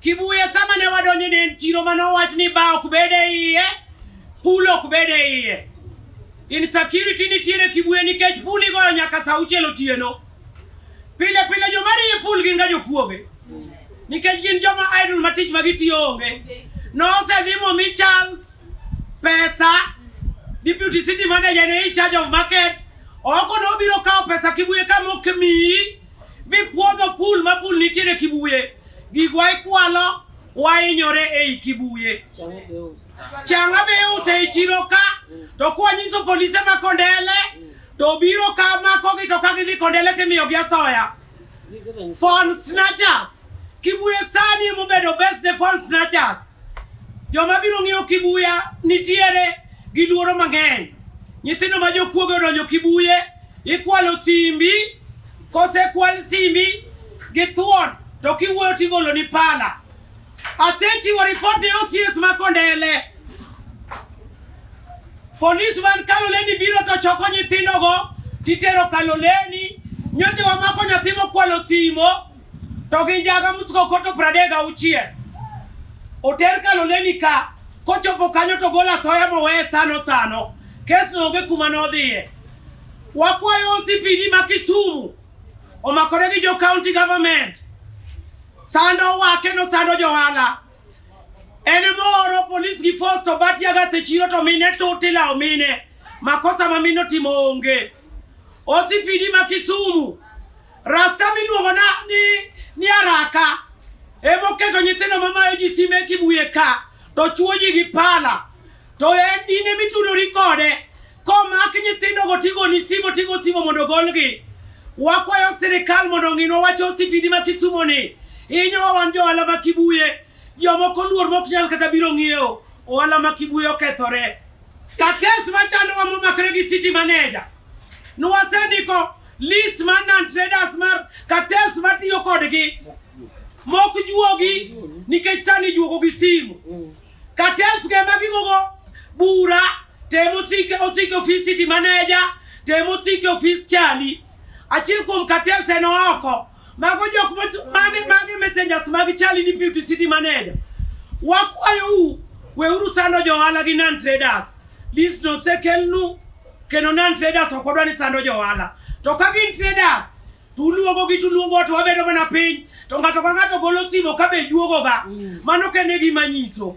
Kibuye sama ne wadonjo ne en chiro mane owach ni ba ok bed e iye, pool ok bed e iye. Insecurity nitiere Kibuye nikech pool igoyo nyaka saa auchiel otieno. Pile pile joma riye pool gin ga jokuoge. Nikech gin joma idle ma tich ma gitiyo onge. Nosedhi momi Charles pesa deputy city manager ne in charge of markets oko nobiro kawo pesa Kibuye ka mok miyi Mipwodho pul ma pul nitiere Kibuye, gigwa ikwalo wainyore ei Kibuye. Changa be iuse e chiro ka, to kwanyiso polise ma Kondele, to biro ka makogi to ka gidhi Kondele timiyogi asoya. Phone snatchers. Kibuye sani emobedo best the phone snatchers. Joma biro ng'iyo Kibuya nitiere gi luoro mang'eny. Nyithindo ma jokuoge odonjo Kibuye, ikwalo simbi, kosekwal simbi gi thuon to kiwuoyo tigolo ni pala. Asechiwo ripot ne OCS ma Kondele. Polis man Kaloleni biro to choko nyithindogo titero Kaloleni. Nyocha wamako nyathi mokwalo simo. To gi njaga msgo koto pradega auchiel. Oter kaloleni ka, kochopo kanyo to gol asoya moweye sano sano. Kes no onge kuma nodhiye. Wakwayo OCPD ma Kisumu omakore gi jo county government. Sando wake no sando johala. En moro polis gi force to bat yaga se chiro to mine to tila omine. Makosa ma mino timo onge. OCPD ma Kisumu Rasta miluongo na ni ni araka ema oketo nyithindo mamayo ji sime kibuye ka to chuo ji gi pala to en in ema itudori kode komak nyithindogo tigoni simo tigo simo mondo ogolgi wakwayo sirikal mondo ong'inwa wacho osipidi ma Kisumo ni inyowa wan jo ohala ma Kibuye jomoko luor mok nyal kata biro ng'iewo ohala ma Kibuye okethore Ka kes machandowa momakre gi city manager, nwasendiko list mar non traders mar kates matiyo kodgi mok juogi nikech sani juogo gi simu kates ge magigogo bura temo sike osike ofis city manager temo sike ofis chali achiel kuom kates en oko Mago jok mane mage messengers mag chali ni Piuti City Manager. Wakwayou weuru sando jo ohala gi non traders. This no sekelnu kendo non traders ok odwa ni sando jo ohala. To ka gin traders tuluongo gi tuluongo to wabedo mana piny to ng'ato ka ng'ato golo simo ka be juogoga. Mm. Mano kende gima nyiso.